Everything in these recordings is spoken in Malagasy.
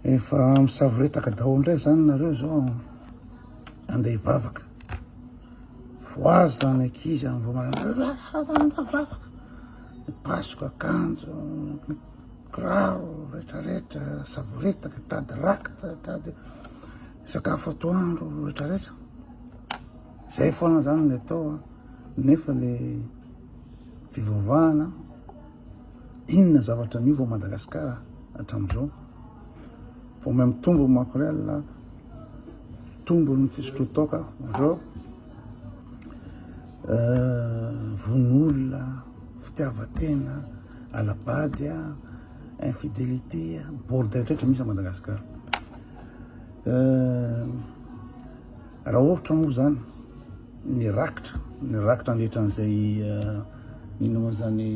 Efa misavoretaka daholo indray izany nareo zao andeha hivavaka. Voaza ny ankizy amin'ny vao maraina. Mipasoka akanjo, kiraro rehetrarehetra, savoretaka, tady rakitra, tady sakafo atoandro rehetrarehetra. Izay foana izany ny atao nefa le fivavahana Inona zavatra niova ao Madagascar hatramin'izao? Vao may mitombo ny makorel, mitombo ny fisotroan-toaka amin'izao, vono-olona, fitiavan-tena, ala-bady, infidélité, bordel rehetra misy ao Madagascar. Raha ohatra moa izany, ny rakitra, ny rakitra nandritra an'izay ino moa izany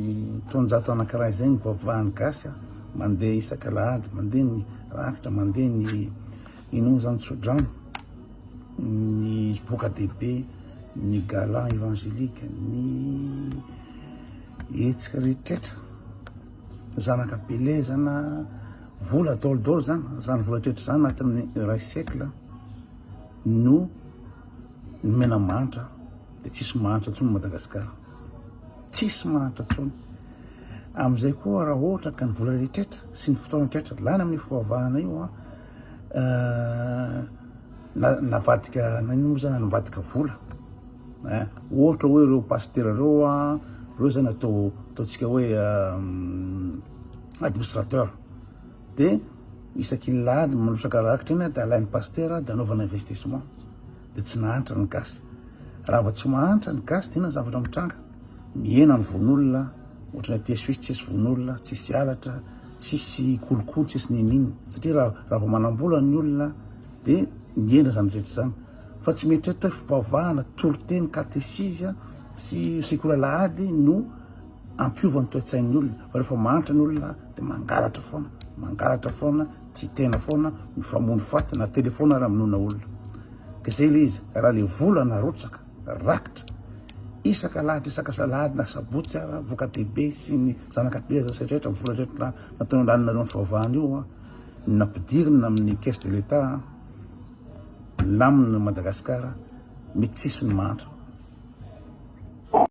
taonjato anankiray izay ny vaovahan'ny gasy mandeha isaka alahady, mandeha ny rakitra, mandeha ny ino moa izany tsodrano, ny boka dehibe, ny gala evangelique, ny hetsika rehetra, zanaka belezana, vola daholo daholo izany, izany vola rehetra izany anatin'ny iray siècle no. Ny mena mahantra dia tsisy mahantra intsony Madagasikara. Tsisy mahantra intsony. Amin'izay koa raha ohatra ka ny vola rehetra sy ny fotoana rehetra lany amin'ny fivavahana io an, eh, na, navadika nanino moa zany navadika vola. Eh, ohatra hoe ireo pasitera ireo an, ireo zany atao ataontsika hoe eh, administrateur. De isaky ny lahady manosaka rakitra iny de alainy pasitera de anaovana investissement de tsy nahantra ny gasy raha vao tsy mahantra ny gasy de inona ny zavatra mitranga mihena ny vononolona ohatry ny aty suisse tsisy vononolona tsisy halatra tsisy kolokolo tsisy niniana satria raha raha vao manambola ny olona de mihena zany rehetra zany fa tsy mieritreritra hoe fivavahana toriteny katesizy sy sekoly alahady no hampiova ny toetsain'ny olona fa rehefa mahantra ny olona dia mangalatra foana mangalatra foana tsy tena foana mifamono faty na telefaona ary aminona olona dia zay le izy raha le vola narotsaka rakitra isaka lahady isaka salahady na sabotsy ara voka dehibe sy ny zanakateza sy rehetra vola rehetra natao andaninareo ny fahavahana io a nampidirina amin'ny caisse de l'état lamina Madagasikara mety tsisy ny mahantra